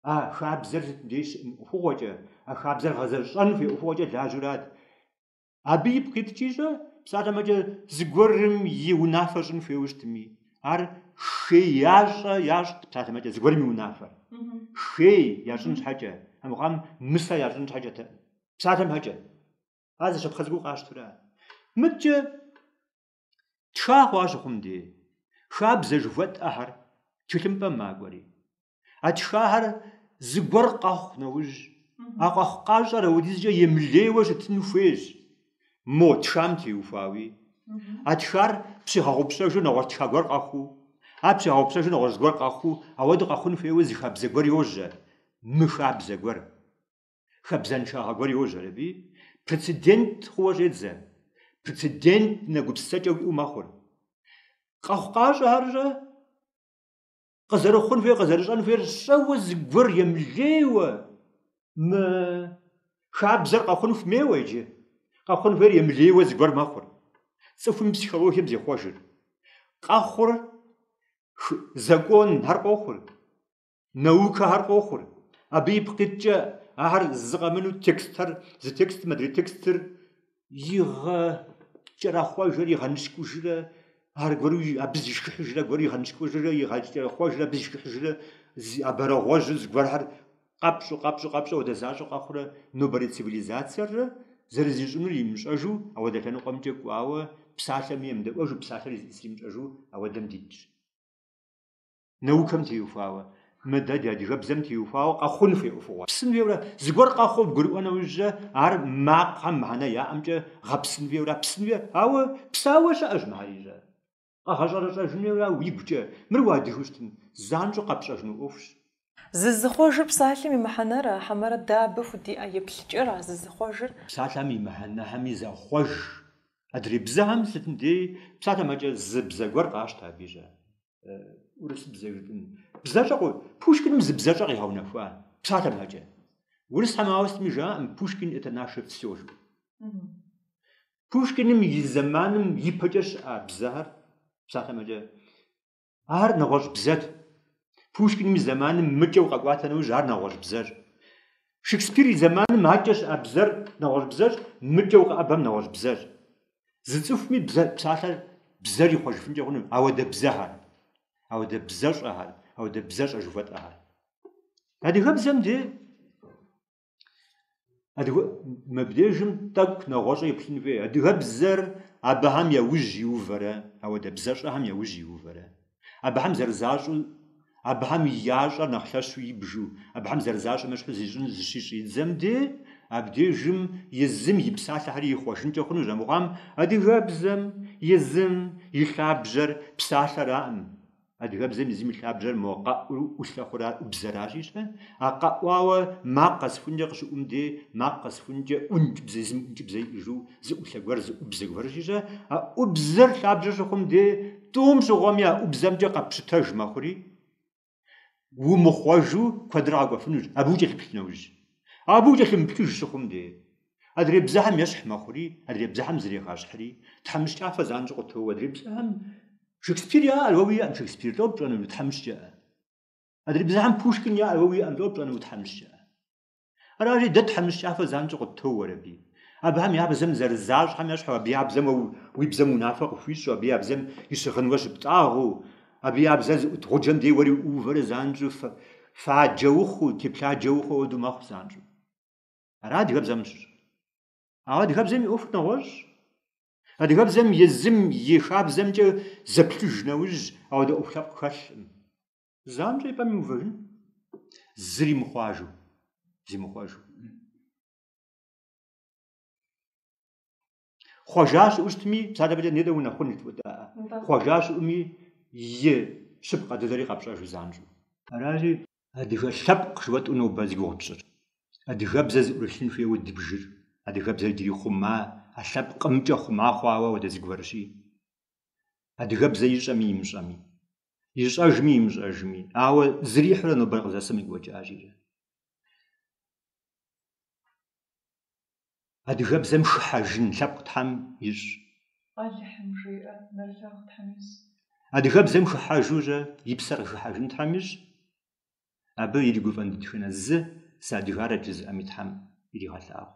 А хабзэр сыт дей щыӏэн ӏуэхугъуэкӏэ, а хабзэр гъэзэщӏэн хуей ӏуэхугъуэкӏэ лажьэурат. Абы ипкъ иткӏищӏэ, псалъэмэкӏэ, зыгуэрым и унафэ щӏын хуейуэ щытми, ар хей ящӏэ ящӏт псалъэм щхьэкӏэ зыгуэрым и унафэр. Хей ящӏын щхьэкӏэ, армыхъуам мысэ ящӏын щхьэкӏэтэкъым, псалъэм щхьэкӏэ. Ар зы щапхъэ цӏыкӏуу къащтурат. Мыдкӏэ Тша хъуа щыхъум де, хабзэ жыхуэтӏэхэр тхылъымпӏэм макӏуэри. А тшахэр зыгуэр къэхъу нэужь, а къэхъукъащӏэр ауэдизкӏэ емылейуэ щытын хуейщ, мо тшам теухуауи. А тшар пщигъэгъупщэжу нэгъуэщӏ тша гуэр къэхъуу, ар пщигъэгъупщэжу нэгъуэщӏ гуэр къэхъуу, ауэду къэхъун хуейуэ зы хабзэ гуэр йожьэ, мыхабзэ гуэр. хабзэншагъэ гуэр йожьэр абыи, прецедент хъууэ щӏедзэ, прецедентнэ гупсысэкӏэ уиӏэу мэхъур. Къэхъукъащӏэ ар щӏэ? Къызэрыхъун хуейр, къызэрыщӏэн хуейр щӏэуэ зыгуэр емылейуэ мыхабзэрэ къэхъун хуэмейуэ иджы, къэхъун хуейр емылейуэ зыгуэр мэхъур. Цӏыхум и психологием зехъуэжыр. Къохъур законхэр, къохъур. Наукэхэр къохъур. Абы ипкъ иткӏэ ахэр зы къэмынэу текстхэр, зы текстым адрей текстыр игъэкӏэрэхъуэжыр, игъэныщкӏужрэ аргуэру абы зишхыхьыжрэ, аргуэру игъэныщкӏужрэ, игъэкӏэрэхъуэжрэ, абы зишхыхьыжрэ зы абрагъуэжьу зыгуэрхэр къэпщу, къэпщу, къэпщу ауэдэ защӏэу къэхъурэ нобэрей цивилизациеррэ зэрызищӏынур имыщӏэжу ауэдэ лъэныкъуэмкӏэ кӏуауэ псалъэми емыдэӏуэжу, псалъэр зищӏысыр имыщӏэжу ауэдэм дитщ. наукэм теухуауэ, мыдэ ди адыгэбзэм теухуауэ къэхъун хуей ӏуэхугъуэщ. Псын хуейуэра? Зыгуэр къэхъуу бгурыӏуэ нэужькӏэ, ар макъхэм мыхьэнэ яӏэмкӏэ гъэпсын хуейуэра? Псын хуей, ауэ псауэ щыӏэщ мыхьэрийрэ. Къэгъэщӏэрэщӏэжын хуейуэра уигукӏэ? Мыр уадыгэу щытым, занщӏэу къэпщӏэжыну ӏуэхущ. Зызыхъуэжыр псалъэм и мыхьэнэра, хьэмэрэ дэ абы худиӏэ еплъыкӏэра зызыхъуэжыр? Псалъэм и мыхьэнэхэми захъуэж. Адрей бзэхэм сытым дей псалъэм щхьэкӏэ зы бзэ гуэр къащтэ абыищӏэ. урысыбзэ жытӏэм. Бзэщӏэ Пушкиным зы бзэщӏэ къигъэунэхуа псалъэм щхьэкӏэ. Урысхэм ауэ сытми жаӏэкъым Пушкин это наше все жу. Пушкиным и зэманым ипэкӏэ щыӏа бзэхэр псалъэм щхьэкӏэ ар нэгъуэщӏ бзэт. Пушкиным и зэманым мыкӏэу къэкӏуатэ нэужь ар нэгъуэщӏ бзэщ. Шекспир и зэманым акӏэ щыӏа бзэр нэгъуэщӏ бзэщ, мыкӏэ укъэӏэбэм нэгъуэщӏ бзэщ. Зы цӏыхуми бзэ псалъэр бзэр ихъуэжыфынкӏэ хъуну, ауэдэ бзэхэр, ауэдэ бзэщӏэхэр, ауэдэ бзэщӏэ жыхуэтӏэхэр. Адыгэбзэм де адыгэм абдежым тӏэкӏу нэгъуэщӏу еплъын хуей, адыгэбзэр абыхэм яужь иувэрэ, ауэдэ бзэщӏэхэм яужь иувэрэ. Абыхэм зэрызащӏу, абыхэм я щӏэр нэхъ лъэщу ибжу, абыхэм зэрызащӏым ещхьу зищӏын зыщищӏидзэм де, абдежым езым и псалъэхэри ихъуэжынкӏэ хъунущ, амыхъуам адыгэбзэм езым и лъабжьэр псалъэраӏым. Адыгэбзэм езым и лъабжьэр мо къэӏур ӏулъэхъура ӏубзэращи-щэ, а къэӏуауэ макъ къэсхункӏэ къыщыӏум де, макъ къэсхункӏэ ӏункӏыбзэ, езым ӏункӏыбзэ иӏэжу, Зы ӏулъэ гуэр зы ӏубзэ гуэр щищӏэ, а ӏубзэр лъабжьэ щыхъум де, тӏум щыгъуэми а ӏубзэмкӏэ къэпщытэж мэхъури, умыхъуэжу куэдрэ къэкӏуэфынущ, абы укӏэлъыплъ нэужь. Абы укӏэлъымыплъыж щыхъум де, адрей бзэхьэм ещхь мэхъури, адрей бзэхьэм зрегъэщхьри, тхьэмыщкӏафэ занщӏэу къытоуэ, адрей бзэхьэм Шекспир яӏэр уэ уиӏэм Шекспир, лӏо пщӏэну, утхьэмыщкӏэӏэ. Адрей бзэхьэм Пушкин яӏэр уэ уиӏэм, лӏо пщӏэну, утхьэмыщкӏэӏэ. Аращи, дэ тхьэмыщкӏафэ занщӏэу къыттоуэ уэр аби. Абыхэм я бзэм зэрызащӏхьэм ещхьу абы я бзэм уэ уи бзэм унафэ къыхуищӏу, абы я бзэм и щыгъын уэ щыптӏагъэу, абы я бзэр зыӏут гъуджэм дей уэри уувэрэ занщӏэу фаджэ ухъуу, теплъаджэ ухъуу хуэдэу мэхъу занщӏэу. Ара адыгэбзэм щыщӏыр. Ауэ адыгэбзэм и ӏуэхур нэгъуэщӏщ. Адыгэбзэм езым и хабзэмкӏэ зэплъыж нэужь, ауэдэ ӏуэху лъэпкъ хэлъкъым. Занщӏэ и пӏэм иувэжын, зыри мыхъуажу, зимыхъуэжу. Хъуэжа щыӏэу щытми, псалъэфӏкӏэ нетӏэ унэхъун и тӏуэдаӏэ. Хъуэжа щыӏуми, и щыпкъэ дыдэри къэпщӏэжу занщӏэу. Аращи, адыгэ лъэпкъ жыуэтӏэу нобэ зи гугъу тщӏыр. Адыгэбзэ зыӏурылъын хуейуэ дыбжыр. Адыгэбзэр иджыри хъума, а лъэпкъымкӏэ хъума хъуауэ уэдэ зыгуэрщи. Адыгэбзэ ищӏэми имыщӏэми. ищӏэжми имыщӏэжми, ауэ зрихьурэ нобэр къызэсым и гуэкӏажирэ. Адыгэбзэм шыхьэжын лъэпкъ Тхьэм ищӏ. Алыхьым жиӏэ, нэрылъагъу Тхьэм ищӏ. Адыгэбзэм шыхьэжурэ и псэр къыхыхьэжын Тхьэм ищӏ. Абы иригуфӏэн дэтхэнэ зы садыгарэ жызыӏэми Тхьэм иригъэлъагъу.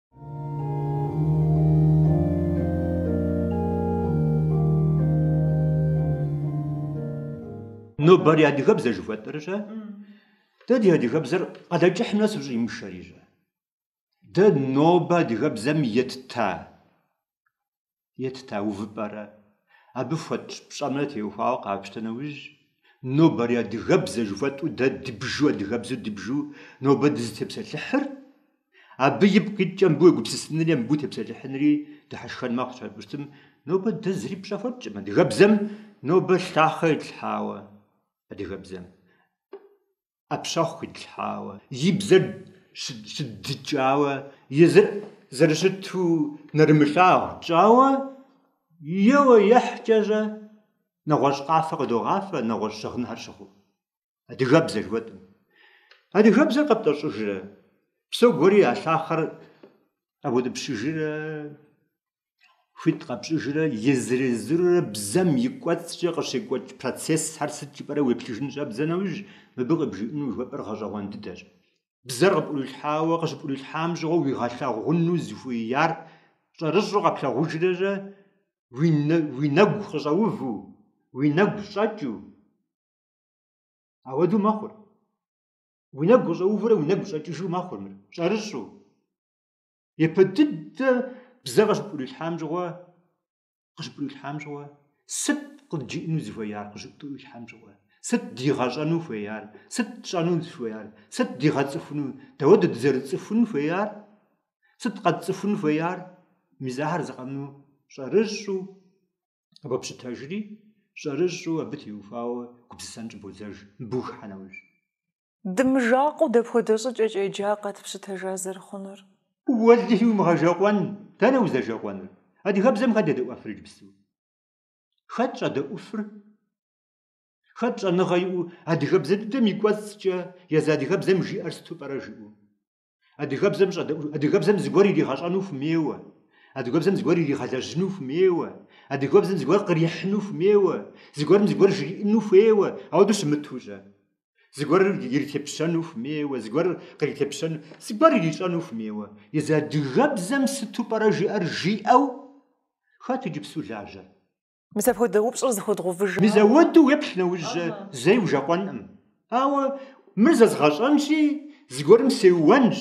Нобэрей адыгэбзэ жыхуэтӏэр-щэ, дэ ди адыгэбзэр Къалэкӏыхь нэс ущӏимышэри-щэ. Дэ нобэ адыгэбзэм етта етта увыпӏэрэ, абы хуэтщӏ пщӏэмрэ теухуауэ къапщтэ нэужь, нобэрей адыгэбзэ жыхуэтӏу дэ дыбжу адыгэбзэу дыбжу нобэ дызытепсэлъыхьыр, абы ипкъ иткӏэ мыбы уегупсысынри е мыбы утепсэлъыхьынри дыхьэшхэн мэхъу, щхьэ пӏу щытым нобэ дэ зыри пщӏэ хуэтщӏым адыгэбзэм, нобэ лъахъэ итлъхьауэ адыгэбзэм. ӏэпщэхъу къитлъхьауэ, и бзэр щыддыкӏауэ, езыр зэрыщыту нэрымылъагъу тщӏауэ, еуэ ехькӏэщӏэ нэгъуэщӏ къафэ къыдогъафэ нэгъуэщӏ щыгъынхэр щыхъуу. Адыгэбзэ жыхуэтӏэм. Адыгэбзэр къэптӏэщӏыжрэ, псогуэри а лъахъэр къэбутӏыпщыжрэ, Хуит къэпщӏыжрэ езыр-езырурэ бзэм и кӏуэцӏкӏэ къыщекӏуэкӏ процессхэр сыт жыпӏэрэ уеплъыжын щӏэбдзэ нэужь, мыбы къыбжиӏэну жыхуэпӏэр гъэщӏэгъуэн дыдэщ. Бзэр къыпӏурилъхьауэ къыщыпӏурилъхьам щыгъуэ уигъэлъагъуну зыхуеяр щӏэрыщӏэу къэплъагъужрэрэ уи нэгу къыщӏэуву, уи нэгу щӏэкӏыу ауэдэу мэхъур. Уи нэгу къыщӏэувурэ уи нэгу щӏэкӏыжу мэхъур мыр, щӏэрыщӏэу. Япэ дыдэ бзэ къыщыпӏурилъхьам щыгъуэ, къыщыпӏурилъхьам щыгъуэ, сыт къыджиӏэну зыхуеяр, къыщыпӏурилъхьам щыгъуэ, сыт дигъэщӏэну хуеяр, сыт тщӏэну зыхуеяр, сыт дигъэцӏыхуну, дауэдэу дызэрыцӏыхун хуеяр, сыт къэтцӏыхун хуеяр, мис ахэр зыкъэмыну щӏэрыщӏу къыбопщытэжри, щӏэрыщӏу абы теухуауэ гупсысэн щӏыбодзэж, мыбы ухыхьэ нэужь. Дымыжэкъуэу дапхуэдэ щӏыкӏэкӏэ джа къэтпщытэжа зэрыхъунур? Уэлэхьи умыгъэжэкъуэн, дэнэ узэжэкъуэнур? Адыгэбзэм хэт едэӏуэфыр иджыпсту? Хэт щӏэдэӏуфыр? Хэт щӏэныгъэ иӏэу адыгэбзэ дыдэм и кӏуэцӏкӏэ езы адыгэбзэм жиӏэр сыту пӏэрэ жиӏэу? Адыгэбзэм щӏэдэӏу, адыгэбзэм зыгуэр иригъэщӏэну хуэмейуэ. Адыгэбзэм зыгуэр иригъэлэжьыну хуэмейуэ. Адыгэбзэм зыгуэр кърихьыну хуэмейуэ. Зыгуэрым зыгуэр жриӏыну хуейуэ, ауэдэу щымыту-щэ. Зыгуэр иритепщэну хуэмейуэ, зыгуэр къритепщэну, зыгуэр ирищӏэну хуэмейуэ. Езы адыгэбзэм сыту пӏэрэ жиӏэр жиӏэу хэт иджыпсту лажьэр? Мис апхуэдэ упщӏэр зыхуэдгъэувыж. Мис ауэдэу уеплъ нэужь-щэ зэи ужэкъуэнкъым. Ауэ мыр зэзгъэщӏэнщи, зыгуэрым сеуэнщ.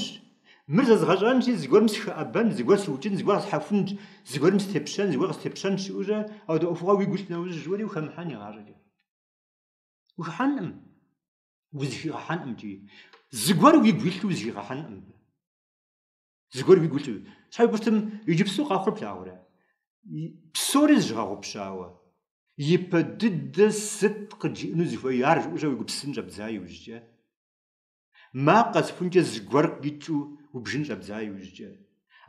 Мыр зэзгъэщӏэнщи, зыгуэрым сыхэӏэбэнщ, зыгуэр сыукӏынщ, зыгуэр къэсхьэхунщ, зыгуэрым степщэнщ, зыгуэр къыстепщэнщ жиӏэу-щэ ауэдэ ӏуэхугъуэ уигу илъ нэужь-щэ уэри ухэмыхьэн игъащӏэкӏэ. Ухыхьэнкъым, узыхигъэхьэнкъым икӏи. Зыгуэр уигу илъу узыхигъэхьэнкъым. Зыгуэр уигу илъу. Щхьэйубыртым иджыпсту къэхъур плъагъурэ? Псори зыщыгъэгъупщауэ. Ипэ дыдэ сыт къыджиӏэну зыхуеяр жиӏэу-щэ уегупсысын щӏэбдза иужькӏэ? Макъ къэсыхункӏэ зыгуэр къикӏыу убжын щӏэбдза иужькӏэ?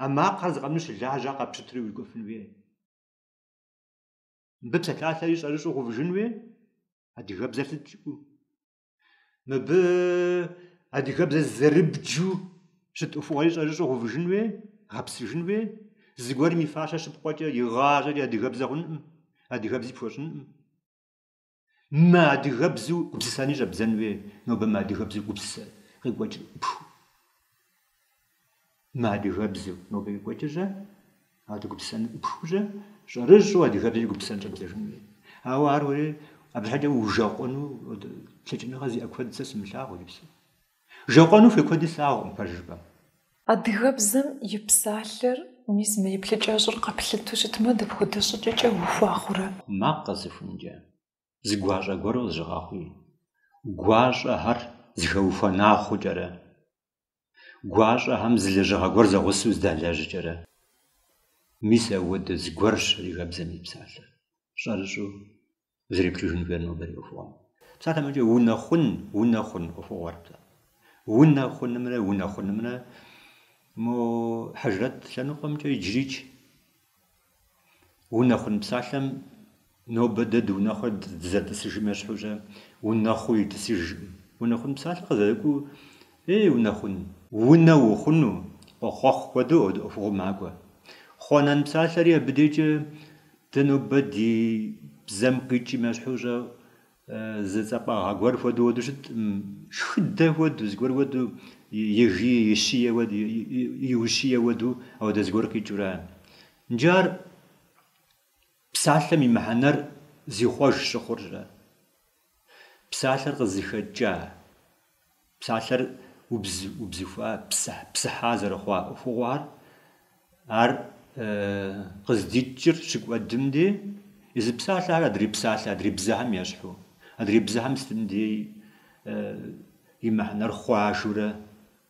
А макъхэр зыкъэмыну щылажьа къэпщытри урикӏуэфын хуей? Мыбы псалъалъэри щӏэрыщӏу гъэувыжын хуей? Адыгэбзэр сыт жыӏэу? Мыбы адыгэбзэ зэрыбджу щыт ӏуэхугъуэри щӏэрыщӏэу гъэувыжын хуей, гъэпсыжын хуей. Зыгуэрым и фащэ щыпкъуэкӏэ, игъащӏэкӏэ адыгэбзэ хъункъым, адыгэбзи пхуэщӏынкъым. Мы адыгэбзэу гупсысэни щӏэбдзэн хуей, нобэ мы адыгэбзэу гупсысэ къекӏуэкӏ ӏупхыу. Мы адыгэбзэу нобэ екӏуэкӏы-щэ, адыгэ гупсысэн ӏупхыу-щэ, щӏэрыщӏэу адыгэбзэу гупсысэн щӏэбдзэжын хуей. Ауэ ар уэри абы щхьэкӏэ ужэкъуэну лъэкӏыныгъэ зиӏэ куэд сэ сымылъагъу иджыпсу. Жэкъуэну хуей куэди слъагъукъым пэжыр жыпӏэм. Адыгэбзэм и псалъэр, мис мы еплъыкӏэщӏэр къэплъытэу щытмэ, дапхуэдэ щӏыкӏэкӏэ ухуа хъурэ? Макъ къэсыхункӏэ, зы гуащӏэ гуэру къызыщыгъэхъуи, гуащӏэхэр зыхэухуэна хъукӏэрэ, гуащӏэхэм зы лэжьыгъэ гуэр зэгъусэу здалэжькӏэрэ. Мис ауэдэ зыгуэрщ адыгэбзэм и псалъэр, щӏэрыщӏэу зэреплъыжын хуейр нобэ ди ӏуэхугъуэм. Псалъэмэкӏэ унэ хъун, унэ хъун ӏуэхугъуэр псалъэ. Унэ хъунымрэ унэ хъунымрэ мо хьэжрэт лъэныкъуэмкӏэ иджырикӏ Унэхъун псалъэм нобэ дэ дыунэхъури дызэрытӏысыжым ещхьу-щэ, унэхъуу итӏысыжкъым. Унэхъун псалъэ къызэрыкӏуэу, ей, унэ хъун! Унэ ухъуну, къохъуэхъу хуэдэу ӏуэхугъуэу макӏуэ. Хъуанэн псалъэри абы дежкӏэ дэ нобэ ди бзэм къикӏым ещхьу-щэ, Зы цӏапӏагъэ гуэр хуэдэу уэду щыт, шхыдэ хуэдэу, зыгуэр хуэдэу, ежи, ищие хуэдэу, иущие хуэдэу, ауэдэ зыгуэр къикӏыурэ. Иджы ар псалъэм и мыхьэнэр зихъуэж щыхъур-щэ? Псалъэр къызыхэкӏа? Псалъэр убз, убзыхуа, псыхь, псыхьа зэрыхъуа ӏуэхугъуэхэр, ар къыздикӏыр щыкӏуэдым дей, езы псалъэхэр адрей псалъэ, адрей бзэхэм ещхьу. Адрей бзэхэм сытым дей и мыхьэнэр хъуажэурэ,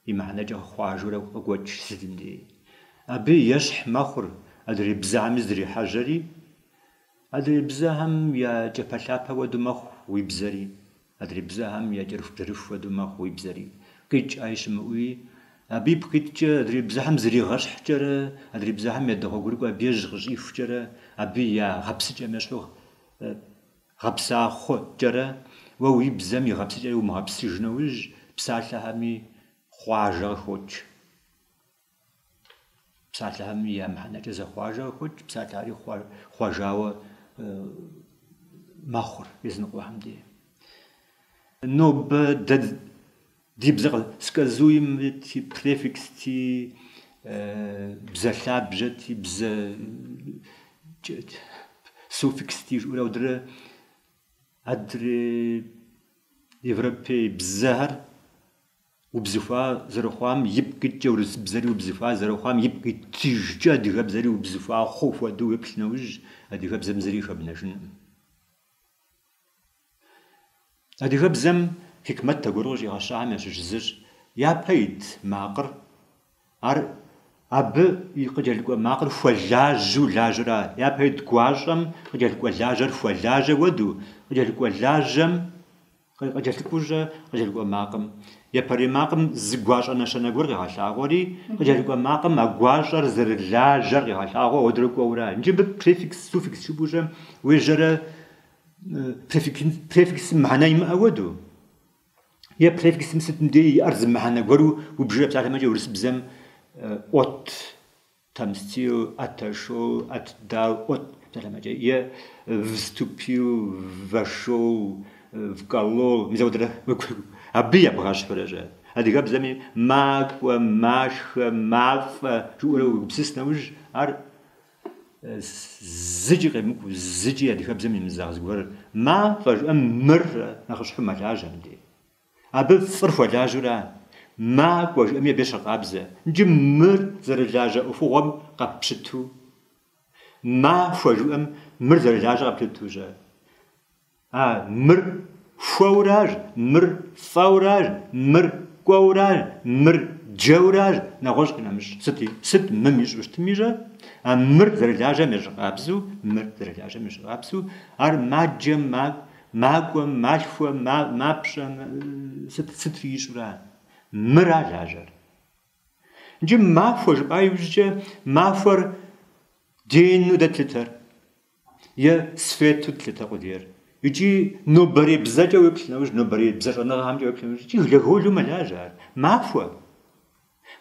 и мыхьэнэкӏэ хъуажэурэ къокӏуэкӏ сытым дей. Абы ещхь мэхъур адрей бзэхэми зыдрихьэжьэри, адрей бзэхэм я кӏапэлъапэ хуэдэу мэхъу уи бзэри. Адрей бзэхэм я кӏэрыхубжьэрыху хуэдэу мэхъу уи бзэри. Къикӏ ӏэи щымыӏуи, абы ипкъ иткӏэ, адрей бзэхэм зригъэщхькӏэрэ, адрей бзэхэм ядэгъуэгурыкӏуэу абы я жьы къыщӏихукӏэрэ, абы я гъэпсыкӏэм ещхьу гъэпса хъукӏэрэ, уэ уи бзэм и гъэпсыкӏэр умыгъэпсыж нэужь, псалъэхэми хъуажэ къыхокӏ. Псалъэхэм я мыхьэнэкӏэ зэхъуажэ къыхокӏ, псалъэхэри хъуа- хъуажауэ мэхъур языныкъуэхэм дей. Нобэ дэ ди бзэ къы- сказуемэти, префиксти, бзэ лъабжьэти, бзэ суффиксти жыӏэурэ ауэдрэ адрей европей бзэхэр Убзыхуа зэрыхъуам ипкъ иткӏэ урысыбзэри убзыхуа зэрыхъуам ипкъ иткӏэ адыгэбзэри убзыхуа хъу хуэдэу уеплъ нэужь, адыгэбзэм зыри хэбнэжынӏым. Адыгэбзэм хьикмэт гуэр къыщӏигъэщахэм ящыщ зыщ япэ ит макъыр. Ар абы къыкӏэлъыкӏуэ макъыр хуэлажьэу лажьэра? Япэ ит гуащӏэм къыкӏэлъыкӏуэ лажьэр хуэлажьэ уэду, къыкӏэлъыкӏуэ лажьэм Къыкӏэлъыкӏуу щӏэ, къыкӏэлъыкӏуэ макъым. Япэрей макъым зы гуащӏэ нэщэнэ гуэр къегъэлъагъуэри, къыкӏэлъыкӏуэ макъым а гуащӏэр зэрылажьэр къегъэлъагъуэ, ауэдрэ кӏуэурэ. Иджы мыбы префикс, суффикс жыпӏэу щӏэ, уежьэрэ префиксым мыхьэнэ имыӏэ уэду. Е префиксым сытым деи иӏэр зы мыхьэнэ гуэру убжрэ псалъэмэкӏэ урысыбзэм от. Отомстил, отошел, отдал, от псалъэмэкӏэ е вступил вошел вколол мис ауэдрэ абы ебгъэщхьурэ щӏэ, адыгэбзэми макӏуэ, машхэ, мафӏэ жыӏэурэ уегупсыс нэужь ар зыкӏи къемыкӏу, зыкӏи адыгэбзэм имызагъэ зыгуэр. Мафӏэ жыӏэм мыр нэхъыщхьэу мэлажьэ мыдей. Абы фӏыр хуэлажьэура? Ма кӏуэ жыӏэми абы ещыкъабзэ. Иджы мыр зэрылажьэ ӏуэхугъуэм къэппщыту. Ма хуэ жыӏэм мыр зэрылажьэ къэппщыту щӏэ? А мыр хуэуращ, мыр фӏэуращ, мыр кӏуэуращ, мыр джэуращ, нэгъуэщӏ къинэмыщӏ сыт, сыт мым ищӏу щытми щӏэ? А мыр зэрылажьэм ещыкъабзэу, мыр зэрылажьэм ещыкъабзэу, ар маджэм, ма Макӏуэм, малъхуэм, ма, мапщӏэм, сыт, сытри ищӏура. Мыра лажьэр. Иджы махуэ жыпӏа иужькӏэ махуэр дену дэ тлъытэр. Е свету тлъытэ къудейр. Иджы нобэрей бзэкӏэ уеплъ нэужь, нобэрей бзэ щӏэныгъэхэмкӏэ уеплъ нэужь, иджы глаголу мэлажьэ ар. Махуэ.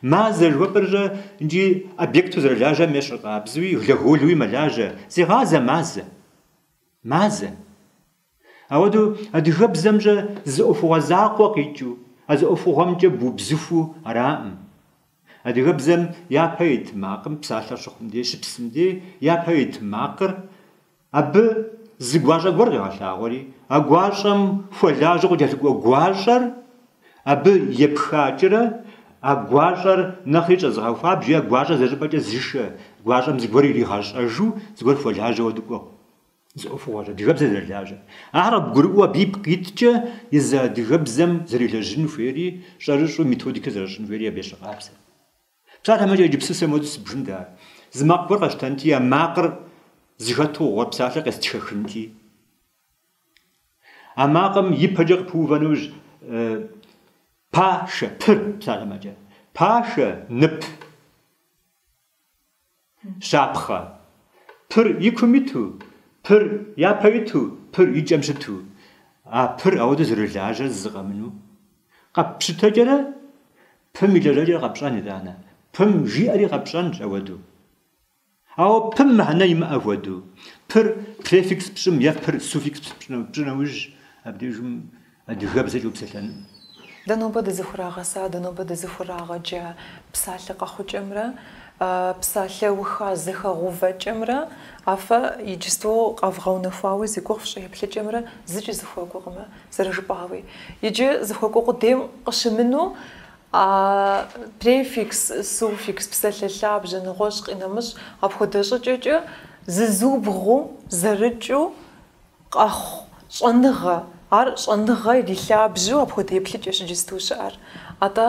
Мазэ жыхуэпӏэр щӏэ иджы объекту зэрылажьэм ещыкъабзуи, глаголуи мэлажьэ. Зегъазэ мазэ. Мазэ. Ауэдэу адыгэбзэм щӏэ зы ӏуэхугъуэ закъуэ къикӏыу, а зы ӏуэхугъуэмкӏэ бубзыхуу араӏым. Адыгэбзэм япэ ит макъым псалъэ щыхъум дей, щыпсым дей, япэ ит макъыр, абы зы гуащӏэ гуэр къегъэлъагъуэри, а гуащӏэм хуэлажьэу къыкӏэлъыкӏуэ гуащӏэр, Абы епхакӏэрэ а гуащӏэр нэхъри щӏэзыгъэхуабжьу е гуащӏэр зэщӏыпӏэкӏэ зышэ, гуащӏэм зыгуэр иригъэщӏэжу зыгуэр хуэлажьэу дыкӏуэу. Зы ӏуэхугъуэщ адыгэбзэр зэрылажьэр. Ахэр къыбгурыӏуэу абы ипкъ иткӏэ езы адыгэбзэм зэрелэжьын хуейри, щӏэрыщӏу методикэ зэрыщӏын хуейри абы ещыкъабзэ. Псалъэмэкӏэ иджыпсту сэ моуэдэу сыбжынт ар. Зы макъ гуэр къэсщтэнти, а макъыр зыхэту хъуар псалъэр къестхэхынти. А макъым ипэкӏэ къыпыувэ нэужь, пашэ, пыр псалъэмэкӏэ, пашэ, нып, щапхъэ, пыр и кум иту, пыр япэ иту, пыр и кӏэм щыту, а пыр ауэдэу зэрылажьэр зы-зы къэмыну, къэппщытэкӏэрэ пым и лэжьэкӏэр къэпщӏэн, итӏанэ, пым жиӏэри къэпщӏэнщ ауэдэу. Ауэ пым мыхьэнэ имыӏэ хуэдэу, пыр префикс пщӏым е пыр суффикс пщӏы нэужь, абдежым адыгэбзэкӏэ упсэлъэну? Дэ нобэ дызыхурагъэса, дэ нобэ дызыхурагъэджа псалъэ къэхъукӏэмрэ псалъэуха зэхэгъувэкӏэмрэ а фэ иджысту къэвгъэунэхуауэ зи гугъу фщӏы еплъыкӏэмрэ зыкӏи зыхуэкӏуэкъымэ, зэрыжыпӏауи. Иджы зыхуэкӏуэ къудейм къыщымыну А префикс, суффикс псалъэ лъабжьэ нэгъуэщӏ къинэмыщӏ. Апхуэдэ щӏыкӏэкӏэ зызубгъуу, зэрыкӏыу къэхъу щӏэныгъэ. Ар щӏэныгъэ ирилъабжьу апхуэдэ еплъыкӏэщ иджысту щыӏэр. Атӏэ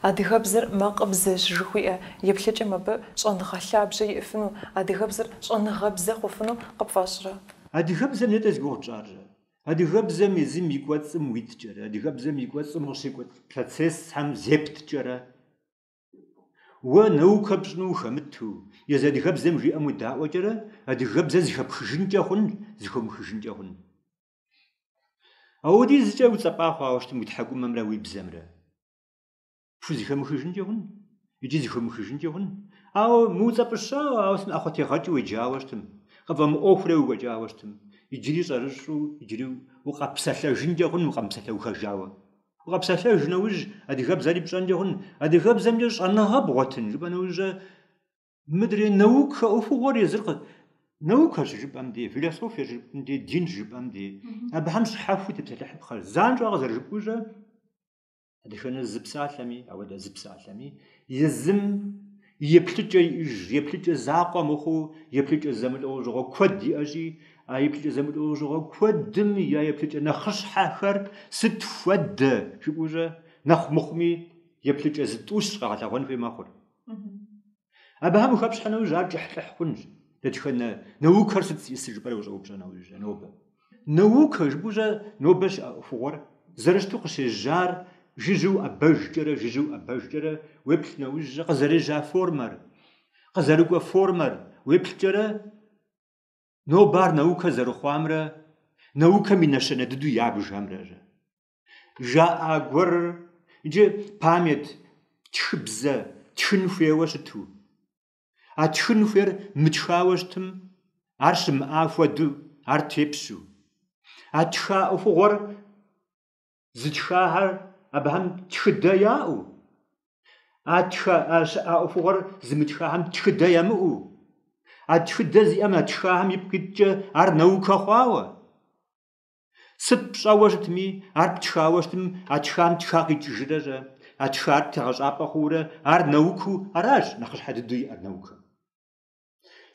адыгэбзэр макъыбзэщ жыхуиӏэ еплъыкӏэм абы щӏэныгъэ лъабжьэ иӏыфыну, адыгэбзэр щӏэныгъэбзэ хъуфыну къыпфӏэщӏрэ? Адыгэбзэр нетӏэ зи гугъу тщӏарэ? Адыгэбзэм езым и кӏуэцӏым уиткӏэрэ, адыгэбзэм и кӏуэцӏым къыщекӏуэкӏ процессхэм зепткӏэрэ? Уэ наукэ пщӏыну ухэмыту, езы адыгэбзэм жиӏэм уедаӏуэкӏэрэ, адыгэбзэр зыхэпхыжынкӏэ хъун, зыхомыхыжынкӏэ хъун? Ауэдизкӏэ уцӏэпӏа хъуауэ щытым уи тхьэкӏумэмрэ уи бзэмрэ? пхузыхэмыхыжынкӏэ хъун икӏи зыхомыхыжынкӏэ хъун. Ауэ мыуцӏэпӏыщауэ, ауэ сытми ӏэхъуэтегъэкӏыу уеджауэ щытым, къыпфӏэмыӏуэхурэ уекӏуэкӏауэ щытым, иджыри щӏэрыщӏу, иджыри укъэпсэлъэжынкӏэ хъун укъэмыпсэлъэухэжауэ. Укъэпсэлъэж нэужь, адыгэбзэри пщӏэнкӏэ хъун. Адыгэбзэмкӏэ щӏэныгъэ бгъуэтын жыпӏэ нэужьэ мыдрей наукэ ӏуэхугъуэр езыр наукэ щыжыпӏэм дей, философие щыжыпӏэм дей, дин щыжыпӏэм дей. Абыхэм щхьэхуэу тепсэлъыхьыпхъэр. Занщӏэу къызэрыжыпӏэущӏэ, дэтхэнэ зы псалъэми, ауэдэ зы псалъэми, езым еплъыкӏэ иӏыж, еплъыкӏэ закъуэ мыхъуу, еплъыкӏэ зэмылӏэужьыгъуэ куэд иӏэщи, а еплъыкӏэ зэмылӏэужьыгъуэ куэдым я еплъыкӏэ нэхъыщхьэхэр сыт хуэдэ жыпӏэущӏэ, нэхъ мыхъуми еплъыкӏэ зытӏущ къэгъэлъэгъуэн хуей мэхъур. Абыхэм ухэпщхьэ нэужь, ар кӏыхьлӏыхь хъунщ. Дэтхэнэ наукэр сыт зиӏысыр жыпӏэрэ ущӏэупщӏэ нэужь щӏэ, нобэ. Наукэ жыпӏэу щӏэ нобэ щыӏэ ӏуэхугъуэр зэрыщыту къыщежьар жыжьэу уӏэбэжкӏэрэ, жыжьэу уӏэбэжкӏэрэ уеплъ нэужь щӏэ, къызэрежьа формэр, къызэрыкӏуэ формэр уеплъкӏэрэ, нобэ ар наукэ зэрыхъуамрэ, наукэм и нэщэнэ дыдэу ябжхэмрэ щӏэ. жаӏа гуэрыр иджы память, тхыбзэ, тхын хуейуэ щыту. А тхын хуейр мытхауэ щытым, ар щымыӏа хуэду, ар тепщу. А тха ӏуэхугъуэр зытхахэр абыхэм тхыдэ яӏэу, а тха щыӏа ӏуэхугъуэр зымытхахэм тхыдэ ямыӏэу, а тхыдэ зиӏэм а тхахэм ипкъ иткӏэ ар наукэ хъуауэ. Сыт пщӏэуэ щытми, ар птхауэ щытым, а тхам тха къикӏыжрэ щӏэ, а тхар тегъэщӏапӏэ хъуурэ, ар наукыу аращ нэхъыщхьэ дыдэу иӏэр наукэм.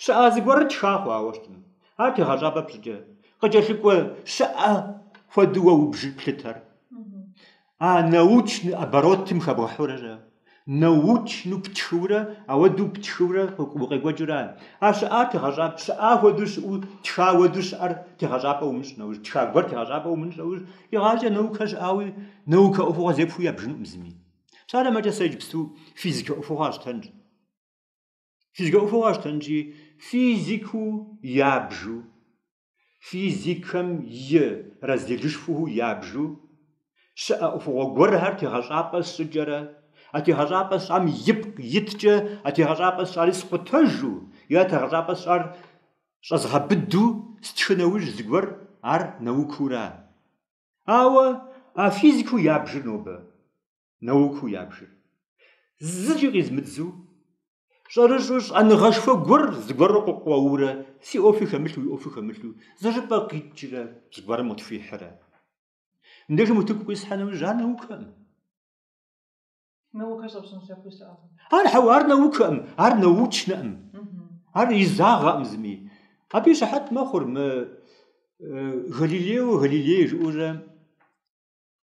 Щыӏа зыгуэрыр тха хъуауэ щытым, ар тегъэщӏапӏэ пщӏыкӏэ, къыкӏэлъыкӏуэ щыӏэ хуэдэуэ убжыр плъытэр. А научный оборотым хэбгъэхьурэ щӏэ, научну птхыурэ, ауэдэу птхыурэ укъекӏуэкӏыурэ. Ар щыӏа тегъэщӏапӏ, щыӏа хуэдэу щыӏэу, тха уэдэу щыӏэр тегъэщӏапӏэ умыщӏ нэужь, тха гуэр тегъэщӏапӏэ умыщӏ нэужь, игъащӏэ наукэ щыӏауи, наукэ ӏуэхугъуэ зепхуэу ябжынукъым зыми. Псалъэм щхьэкӏэ сэ иджыпсту физикэ ӏуэхугъуэ къэсщтэнщ. Физикэ ӏуэхугъуэ къэсщтэнщи, физикыу ябжу физикэм и разделышхуэу ябжу щыӏэ ӏуэхугъуэ гуэрхэр тегъэщӏапӏэ сщӏыкӏэрэ а тегъэщӏапӏэ сщӏам ипкъ иткӏэ а тегъэщӏапӏэ сщӏари скъутэжу е а тегъэщӏапӏэ сщӏар щӏэзгъэбыду стхы нэужь зыгуэр ар наукыура. Ауэ а физикэу ябжыр нобэ. науку ябжыр. Зыкӏи къизмыдзу, щӏэрыщӏу щӏэныгъэшхуэ гуэр зыгуэрыр къыкъуэурэ, си ӏуэхуи хэмылъу, уи ӏуэхуи хэмылъу, зыщӏыпӏэ къикӏрэ зыгуэрым къытхуихьрэ. Мыбдежым утыку къисхьэ нэужь, ар наукэкъым. Наукэ щӏэпщӏын лъэпкъи щыӏэкъым. Ар хьэуэ, ар наукэкъым, ар научнэкъым. Ар изагъэкъым зыми. Абы и щыхьэт мэхъур мы Галилео Галилей жыӏэурэ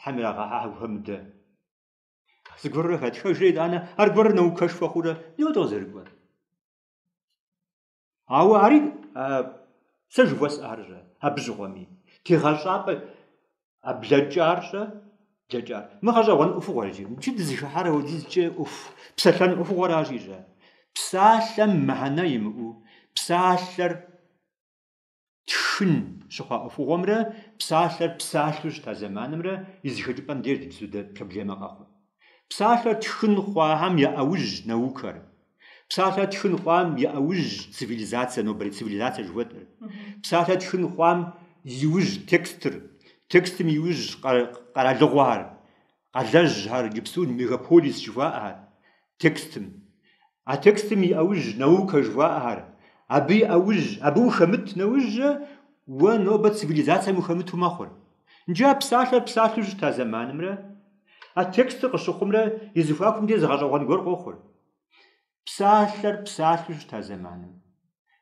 Хьэм ирагъэхьэхьэ гу хэмыдэ. Зыгуэрурэ хэтхэжрэ итӏанэ, аргуэрыр наукэшхуэ хъурэ, ауэдэу къызэрыкӏуэр. Ауэ ари сэ жыхуэсӏар щӏэ, абы щыгъуэми, тегъэщӏапӏэ а блэкӏар щӏэ, блэкӏар. Мы гъэщӏэгъуэн ӏуэхугъуэр иджы, иджы дызыхыхьар ауэдизкӏэ ӏуэху, псалъэн ӏуэхугъуэращи щӏэ. Псалъэм мыхьэнэ имыӏэу, псалъэр тхын щыхъуа ӏуэхугъуэмрэ псалъэр псалъэу щыта зэманымрэ и зэхэкӏыпӏэм деж сыт хуэдэ проблемэ къэхъу. Псалъэр тхын хъуахэм я ӏэужь наукэр. Псалъэр тхын хъуам и ӏэужь цивилизацэ, нобэрей цивилизацэ жыхуэтӏэр. Псалъэр тхын хъуам и ужь текстыр, текстым и ужь къэралыгъуэхэр, Къалэжьхэр иджыпсту мегаполис жыхуаӏэхэр текстым. А текстым и ӏэужь наукэ жыхуаӏэхэр. Абы и ӏэужь, абы ухэмыт нэужь уэ нобэ цивилизацэм ухэмыту мэхъур. Иджы а псалъэр псалъэу щыта зэманымрэ а текстыр къыщыхъумрэ и зэхуакум де зы гъэщӏэгъуэн гуэр къохъур. Псалъэр псалъэу щыта зэманым,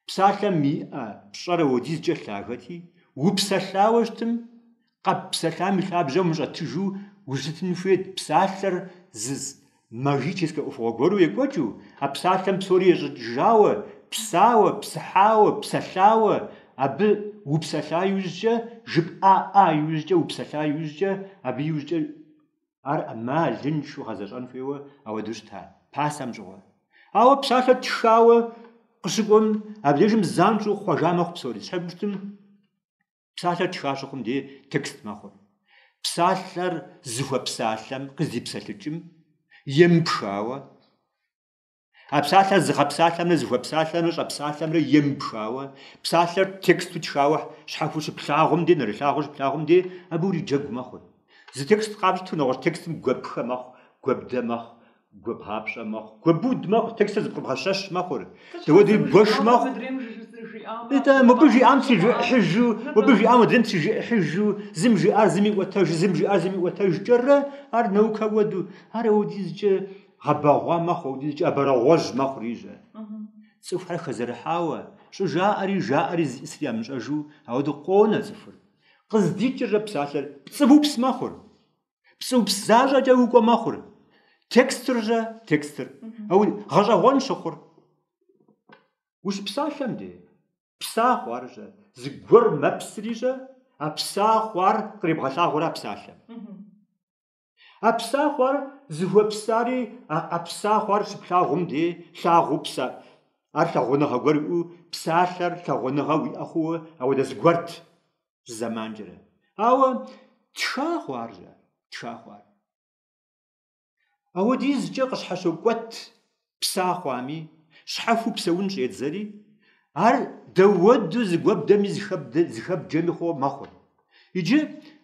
псалъэм иӏэ пщӏэр ауэдизкӏэ лъагэти, упсэлъауэ щытым, къэппсэлъам и лъабжьэм ущӏэтыжу ущытын хуейт псалъэр зы магическэ ӏуэхугъуэ гуэру екӏуэкӏыу, а псалъэм псори ещӏэкӏыжауэ, псауэ, псыхьауэ, псэлъауэ, абы упсэлъа иужькӏэ, жыпӏа ӏа иужькӏэ, упсэлъа иужькӏэ, абы иужькӏэ Ар ӏэмалыншэу гъэзэщӏэн хуейуэ ауэдэу щыта пасэм щыгъуэ. Ауэ псалъэр тхауэ къыщыкӏуэм, абдежым занщӏэу хъуэжа мэхъу псори. Щхьэ жыпӏэу щытым псалъэр тха щыхъум де текст мэхъур. Псалъэр зыхуэпсалъэм къыздипсэлъыкӏым, емыпхауэ, А псалъэр зыгъэпсалъэмрэ зыхуэпсалъэмрэ щӏэпсалъэмрэ емыпхауэ, псалъэр тексту тхауэ щхьэхуэу щыплъагъум де, нэрылъагъуу щыплъагъум де, абы уриджэгу мэхъур. Зы текст къапщту нэгъуэщӏ текстым гуэпхэ мэхъу, гуэбдэ мэхъу, гуэбгъапщӏэ мэхъу, гуэбуд мэхъу, текстыр зыпкъыбгъэщэщ мэхъур. Дауэдури бгуэш мэхъу. Итӏэ, мыбы жиӏам трижыӏыхьыжу, мыбы жиӏам адрейм трижыӏыхьыжу, зым жиӏар зым иӏуэтэжу, зым жиӏар зым иӏуэтэжкӏэрэ, ар наукэ уэду, ар ауэдизкӏэ, Гъэбэгъуа мэхъу икӏи абрагъуэжь мэхъури щэ. Цӏыхухэр хэзэрыхьауэ, щӏыжаӏэри жаӏэри зыӏисыр ямыщӏэжу, ауэдэу къонэ цӏыхур. Къыздикӏыр щэ псалъэр пцӏыупс мэхъур. Пцӏыупс защӏэкӏэ укӏуэ мэхъур. Текстыр щэ текстыр. Ауэ гъэщӏэгъуэн щыхъур. Ущыпсалъэм де, пса хъуар щэ. Зыгуэр мэпсри щэ, а пса хъуар къребгъэлъагъуэра псалъэм. А пса хъуар зыхуэпсари а пса хъуар щыплъагъум де лъагъуу пса, ар лъагъуныгъэ гуэр иӏэу псалъэр лъагъуныгъэ уиӏэ хъууэ ауэдэ зыгуэрт зэманкӏэрэ. Ауэ тха хъуар щэ, тха хъуар. Ауэдизкӏэ къыщхьэщокӏуэт пса хъуами, щхьэхуэу псэун щӏедзэри, ар дауэдэу зыгуэбдэми зыхэбджэми хъуо мэхъур. Иджы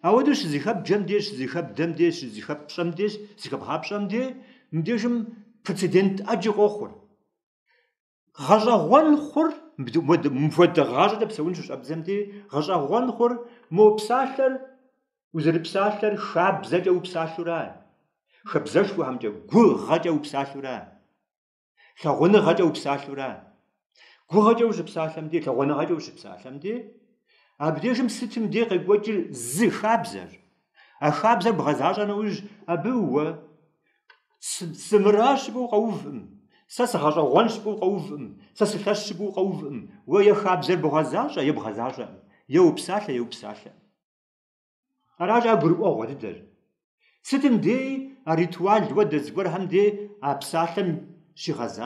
ауэдэу щызыхэбджэм де, щызыхэбдэм де, щызыхэппщӏэм де, зыхэбгъапщӏэм де мыбдежым прецедент ӏэджи къохъур. Гъэщӏэгъуэн хъур, мыпхуэдэ гъащӏэкӏэ псэун щыщӏэбдзэм де, гъэщӏэгъуэн хъур мо псалъэр Узэрыпсалъэр хабзэкӏэ упсалъура? Хабзэшхуэхэмкӏэ, гугъэкӏэ упсалъура? Лъагъуныгъэкӏэ упсалъура? Гугъэкӏэ ущыпсалъэм де, лъагъуныгъэкӏэ ущыпсалъэм де, абдежым сытым де къекӏуэкӏыр зы хабзэр. А хабзэр бгъэзащӏэ нэужь, абы уэ сымыращ жыпӏэу къэувӏым, сэ сыгъэщӏэгъуэнщ жыпӏэу къэувӏым, сэ сылъэщщ жыпӏэу къэувӏым. Уэ е хабзэр бгъэзащӏэ, е бгъэзащӏэкъым, е упсалъэ, е упсалъэкъым. Аращ а гурыӏуэгъуэ дыдэр. Сытым деи а ритуал хуэдэ зыгуэрхэм деи а псалъэм щигъэзащ.